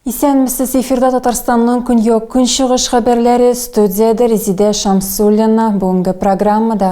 Исәнмесез, эфирда Татарстанның көньяк-көнчыгыш хәбәрләре, студиядә Резидә Шамсуллина. Бүгенге программада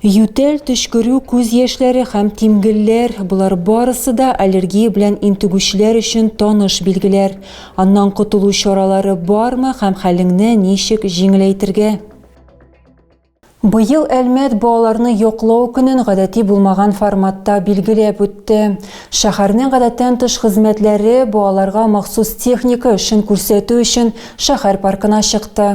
Ютәл, төчкерү, күз яшьләре һәм тимгелләр, болар барысы да аллергия белән интегүчеләр өчен таныш билгеләр. Аннан котылу чаралары бармы һәм хәлеңне ничек җиңеләйтергә? Быел Әлмәт балаларны яклау көнен гадәти булмаган форматта билгеләп үтте. Шәһәрнең гадәттән тыш хезмәтләре балаларга махсус техника эшен күрсәтү өчен шәһәр паркына чыкты.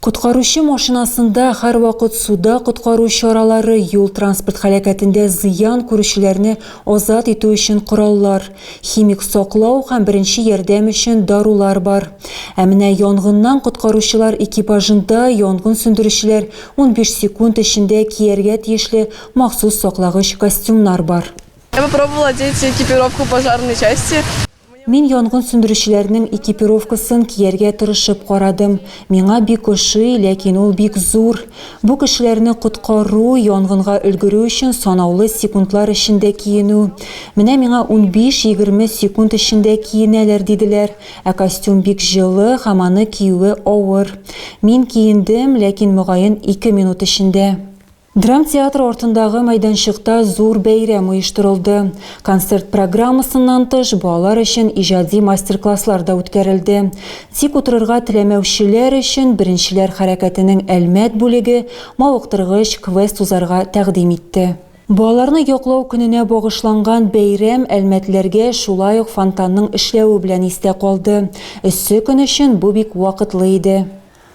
Коткаручы машинасында һәрвакыт суда коткару чаралары, юл-транспорт һәлакәтендә зыян күрүчеләрне азат итү өчен кораллар, химик саклау һәм беренче ярдәм өчен дарулар бар. Ә менә янгыннан коткаручылар экипажында янгын сүндерүчеләр унбиш секунд эчендә кияргә тиешле махсус саклагыч костюмнар бар. Я попробовала одеть экипировку пожарной части. Мин янгын сүндерүчеләрнең экипировкасын кияргә тырышып карадым. Миңа бик ошый, ләкин ул бик зур. Бу кешеләрне коткару, янгынга өлгерү өчен санаулы секундлар эчендә киенү. Менә миңа унбиш-егерме секунд эчендә киенәләр диделәр. Ә костюм бик җылы һәм аны киюе авыр. Мин киендем, ләкин, мөгаен, ике минут эчендә. Драмтеатр артындагы мәйданчыкта зур бәйрәм оештырылды. Концерт программасыннан тыш, балалар өчен иҗади мастер-класслар да үткәрелде. Тик утырырга теләмәүчеләр өчен Беренчеләр хәрәкәтенең Әлмәт бүлеге мавыктыргыч квест узарга тәкъдим итте. Балаларны яклау көненә багышланган бәйрәм әлмәтләргә шулай ук фонтанның эшләве белән истә калды. Эссе көн өчен бу бик вакытлы иде.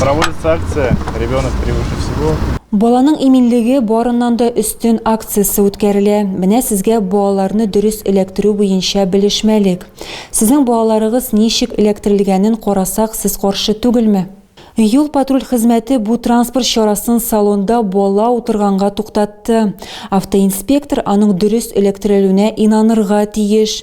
Проводится акция «Ребенок превыше всего». Баланың иминлеге барыннан да өстен акциясе үткәрелә. Менә сезгә балаларны дөрес эләктерү буенча белешмәлек. Сезнең балаларыгыз ничек эләктерелгәнен карасак, сез каршы түгелме? Юл-патруль хезмәте бу транспорт чарасын салонда бала утырганга туктатты. Автоинспектор аның дөрес эләктерелүенә инанырга тиеш.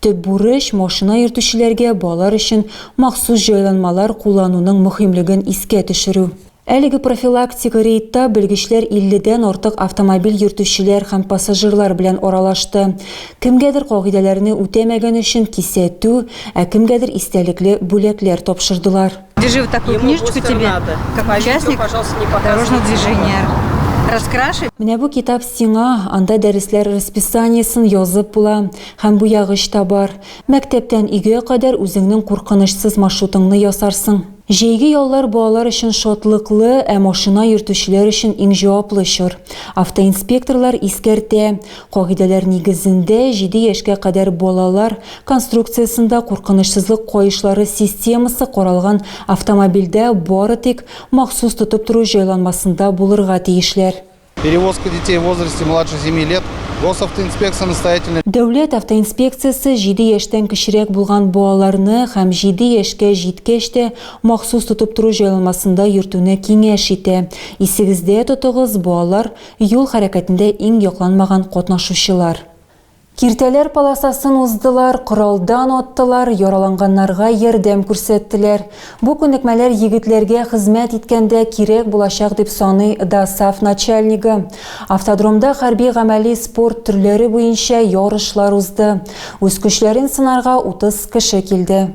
Төп бурыч, машина йөртүчеләргә балалар өчен махсус җайланмалар куллануның мөһимлеген искә төшерү. Әлеге профилактик рейдта белгечләр 50 дән артык автомобиль йөртүчеләр һәм пассажирлар белән аралашты. Кемгәдер кагыйдәләрне үтәмәгән өчен кисәтү, ә кемгәдер истәлекле бүләкләр тапшырдылар. Держи вот такую книжечку тебе, как участник дорожного движения. Раскраши. Менә бу китап сиңа, анда дәресләр расписаниесен язып була, һәм бу ягыч та бар. Мәктәптән өйгә кадәр үзеңнең куркынычсыз маршрутыңны ясарсың. Җәйге яллар балалар өчен шатлыклы, ә машина йөртүчеләр өчен иң җаваплы чор. Автоинспекторлар искәртә, Кагыйдәләр нигезендә, җиде яшькә кадәр балалар конструкциясендә куркынычсызлык каешлары системасы каралган автомобильдә бары тик махсус тотып тору җайланмасында булырга тиешләр. Перевозка детей в возрасте младше семи лет Госавтоинспекция настоятельно. Дәүләт автоинспекциясе җиде яшьтән кечерәк булган балаларны һәм җиде яшькә җиткәч тә махсус тотып тору җайланмасында йөртүне киңәш итә. Исегездә тотыгыз, балалар Юл хәрәкәтендә иң якланмаган катнашучылар. Киртәләр полосасын уздылар, коралдан аттылар, яраланганнарга ярдәм күрсәттеләр. Бу күнекмәләр егетләргә хезмәт иткәндә кирәк булачак, дип саный ДАСАФ начальнигы. Автодромда хәрби-гамәли спорт төрләре буенча ярышлар узды. Үз көчләрен сынарга 30 кеше килде.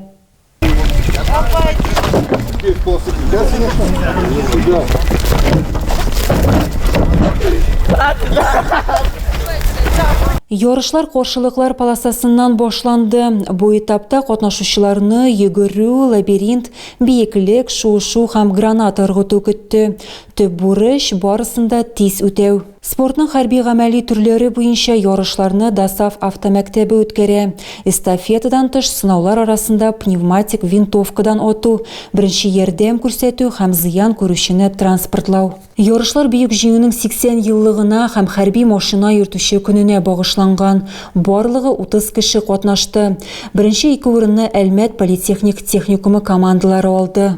Ярышлар каршылыклар полосасыннан башланды. Бу этапта катнашучыларны йөгерү, лабиринт, биеклек, шуышу һәм гранат ыргыту көтте. Төп бурыч барысын да тиз үтәү. Спортның хәрби-гамәли төрләре буенча ярышларны ДОСААФ автомәктәбе үткәрә. Эстафетадан тыш сынаулар арасында пневматик винтовкадан ату, беренче ярдәм күрсәтү һәм зыян күрүчене транспортлау. Ярышлар Бөек Җиңүнең 80 еллыгына һәм хәрби машина йөртүче көненә багышланган. Барлыгы 30 кеше катнашты. Беренче ике урынны Әлмәт политехник техникумы командалары алды.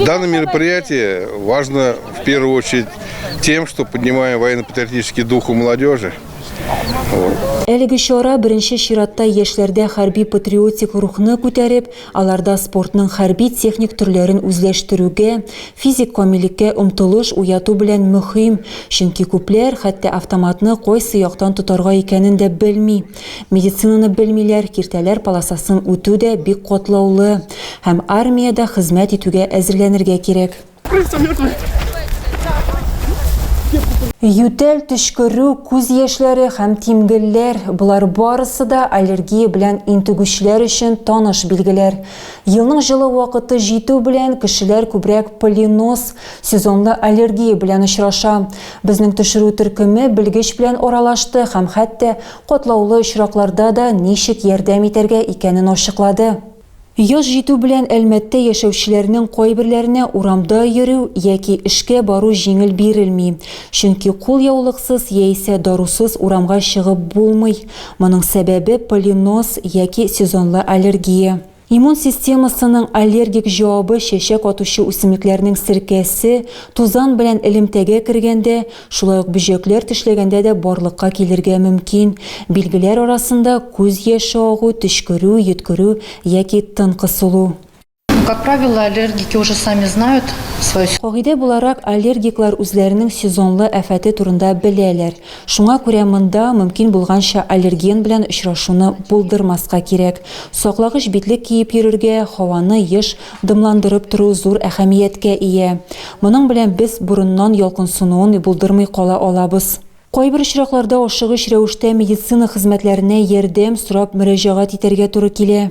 Данное мероприятие важно в первую очередь тем, что поднимаем военно-патриотический дух у молодежи. Әлеге чара беренче чиратта яшьләрдә хәрби патриотик рухны күтәреп, аларда спортның хәрби техник төрләрен үзләштерүгә, физик камиллеккә омтылыш уяту белән мөһим, чөнки күпләр хәтта автоматны кайсы яктан тотарга икәнен дә белми. Медицинаны белмиләр, киртәләр полосасын үтү дә бик катлаулы һәм армиядә хезмәт итүгә әзерләнергә кирәк. Ютәл, төчкерү, күз яшьләре һәм тимгелләр, болар барысы да аллергия белән интегүчеләр өчен таныш билгеләр. Елның җылы вакыты җитү белән, кешеләр күбрәк полинос, сезонлы аллергия белән очраша. Безнең төшерү төркеме белгеч белән аралашты һәм хәтта катлаулы очракларда да ничек ярдәм итәргә икәнен ачыклады. Яз җитү белән Әлмәттә яшәүчеләрнең кайберләренә урамда йөрү яки эшкә бару җиңел бирелми, чөнки кулъяулыксыз яисә дарусыз урамга чыгып булмый, моның сәбәбе полинос яки сезонлы аллергия. Иммун системасының аллергик җавабы чәчәк атучы үсемлекләрнең серкәсе, тузан белән элемтәгә кергәндә, шулай ук бөҗәкләр тешләгәндә дә барлыкка килергә мөмкин. Билгеләр арасында, күз яше агу, төчкерү, йөткерү яки тын кысылу. Как правило, аллергики уже сами знают свой сезон. Кагыйдә буларак, аллергиклар үзләренең сезонлы афәте турында беләләр. Шуңа күрә монда мөмкин булганча аллерген белән очрашуны булдырмаска кирәк. Саклагыч битлек киеп йөрергә, һаваны еш дымландырып тору зур әһәмияткә ия. Моның белән без борыннан ялкынсынуын булдырмый кала алабыз. Кайбер очракларда ашыгыч рәвештә медицина хезмәтләренә ярдәм сорап мөрәҗәгать итәргә туры килә.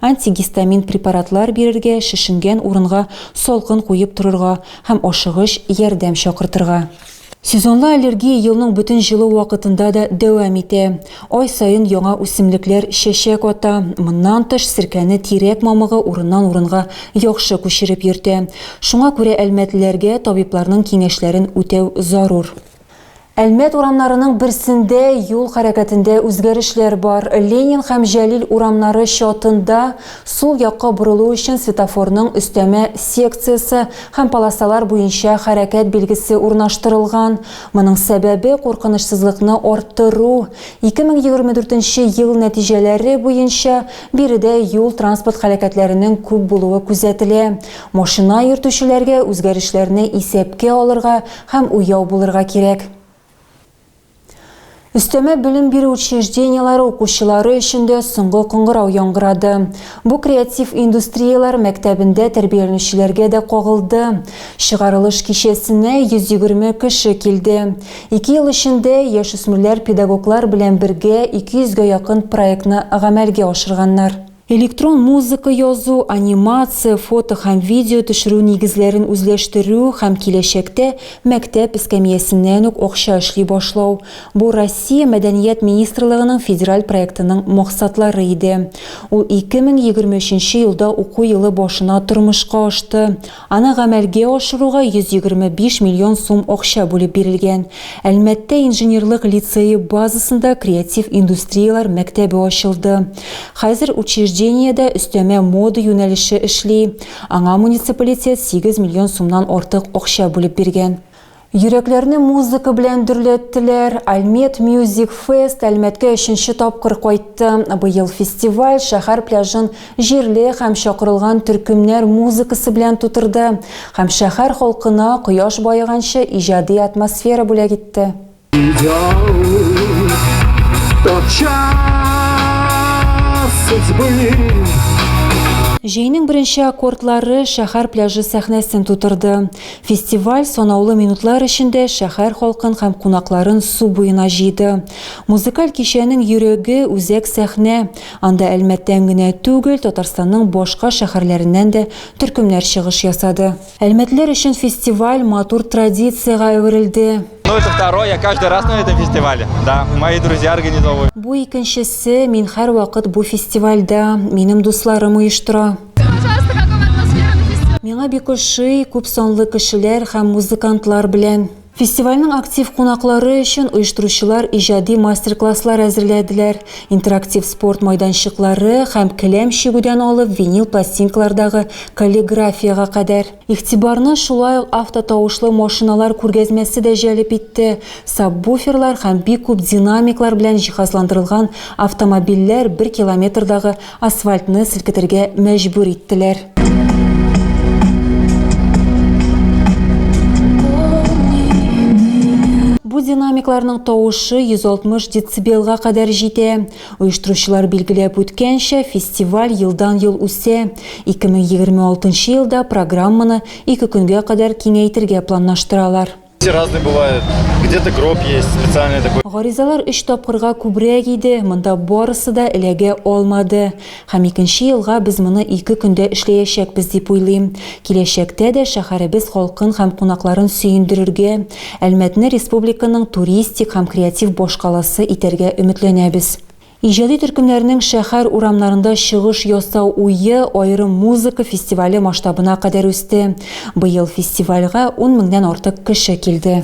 Антигистамин препаратлар бирергә, шешенгән урынга салкын куеп торырга һәм ашыгыч ярдәм чакыртырга. Сезонлы аллергия елның бөтен җылы вакытында да дәвам итә. Ай саен яңа үсемлекләр чәчәк ата. Моннан тыш, серкәне тирәк мамыгы урыннан-урынга яхшы күчереп йөртә. Шуңа күрә әлмәтлеләргә табибларның киңәшләрен үтәү зарур. Әлмәт урамнарының берсендә юл хәрәкәтендә үзгәрешләр бар. Ленин һәм Җәлил урамнары чатында сул якка борылу өчен светофорның өстәмә секциясе һәм полосалар буенча хәрәкәт билгесе урнаштырылган. Моның сәбәбе, куркынычсызлыкны арттыру. 2024 ел нәтиҗәләре буенча, биредә юл-транспорт һәлакәтләренең күп булуы күзәтелә. Машина йөртүчеләргә үзгәрешләрне исәпкә алырга, Һәм уяу булырга кирәк. Өстәмә белем бирү учреждениеләре укучылары өчен дә соңгы кыңгырау яңгырады. Бу креатив индустрияләр мәктәбендә тәрбияләнүчеләргә дә кагылды. Чыгарылыш кичәсенә 120 кеше килде. Ике ел эчендә яшүсмерләр педагоглар белән бергә 200 гә якын проектны гамәлгә ашырганнар. Электрон музыка язу, анимация, фото һәм видео төшерү нигезләрен үзләштерү һәм киләчәктә мәктәп эскәмиясеннән үк акча эшли башлау, бу Россия Мәдәният министрлыгының федераль проектының максатлары иде. Ул 2023 елда уку елы башына тормышка ашты. Аны гамәлгә ашыруга 125 миллион сум акча бүлеп бирелгән. Әлмәттә инженерлык лицее базасында креатив индустрияләр мәктәбе ачылды. Хәзер учреждениедә өстәмә мода юнәлеше эшли. Аңа муниципалитет сигез миллион сумнан артык акча бүлеп биргән. Йөрәкләрне музыка белән дөрләттеләр. Альмет Мьюзик Фест Әлмәткә өченче тапкыр кайтты. Быел фестиваль шәһәр пляжын җирле һәм чакырылган төркемнәр музыкасы белән тутырды һәм шәһәр халкына кояш баеганчы иҗади атмосфера бүләк итте. Җәйнең беренче аккордлары шәһәр пляжы сәхнәсен тутырды. Фестиваль санаулы минутлар эчендә шәһәр халкын һәм кунакларын су буена җыйды. Музыкаль кичәнең йөрәге, үзәк сәхнә. Анда Әлмәттән генә түгел, Татарстанның башка шәһәрләреннән дә төркемнәр чыгыш ясады. Әлмәтлеләр өчен фестиваль матур традициягә әверелде. Бу икенчесе, мин һәрвакыт бу фестивальдә, минем дусларым оештыра. Миңа бик ошый күп санлы кешеләр һәм музыкантлар белән. Фестивальнең актив кунаклары өчен оештыручылар иҗади мастер-класслар әзерләделәр, интерактив спорт майданчыклары һәм келәм чигүдән алып винил пластинкалардагы каллиграфиягә кадәр. Игътибарны шулай ук автотавышлы машиналар күргәзмәсе дә җәлеп итте. Сабвуферлар һәм бик күп динамиклар белән җиһазландырылган автомобильләр бер километрдагы асфальтны селкетергә мәҗбүр иттеләр. Бу динамикларның тавышы 160 децибелга кадәр җитә. Оештыручылар билгеләп үткәнчә, фестиваль елдан-ел үсә. 2026 елда программаны ике көнгә кадәр киңәйтергә планлаштыралар. Гаризалар өч тапкырга күбрәк иде, монда барысы да эләгә алмады. Һәм икенче елга без моны ике көндә эшләячәкбез дип уйлыйм. Киләчәктә дә шәһәребез халкын һәм кунакларын сөендерергә, Әлмәтне республиканың туристик һәм креатив башкаласы итәргә өметләнәбез. Иҗади төркемнәрнең шәһәр урамнарында чыгыш ясау уе аерым музыка фестивале масштабына кадәр үсте. Быел фестивальгә ун меңнән артык кеше килде.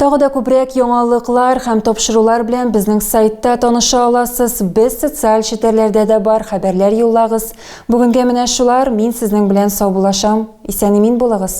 Тагы да күбрәк яңалыклар һәм тапшырулар белән безнең сайтта таныша аласыз. Без социаль челтәрләрдә дә бар, хәбәрләр юллагыз. Бүгенгә менә шулар, мин сезнең белән саубулашам. Исән-имин булыгыз!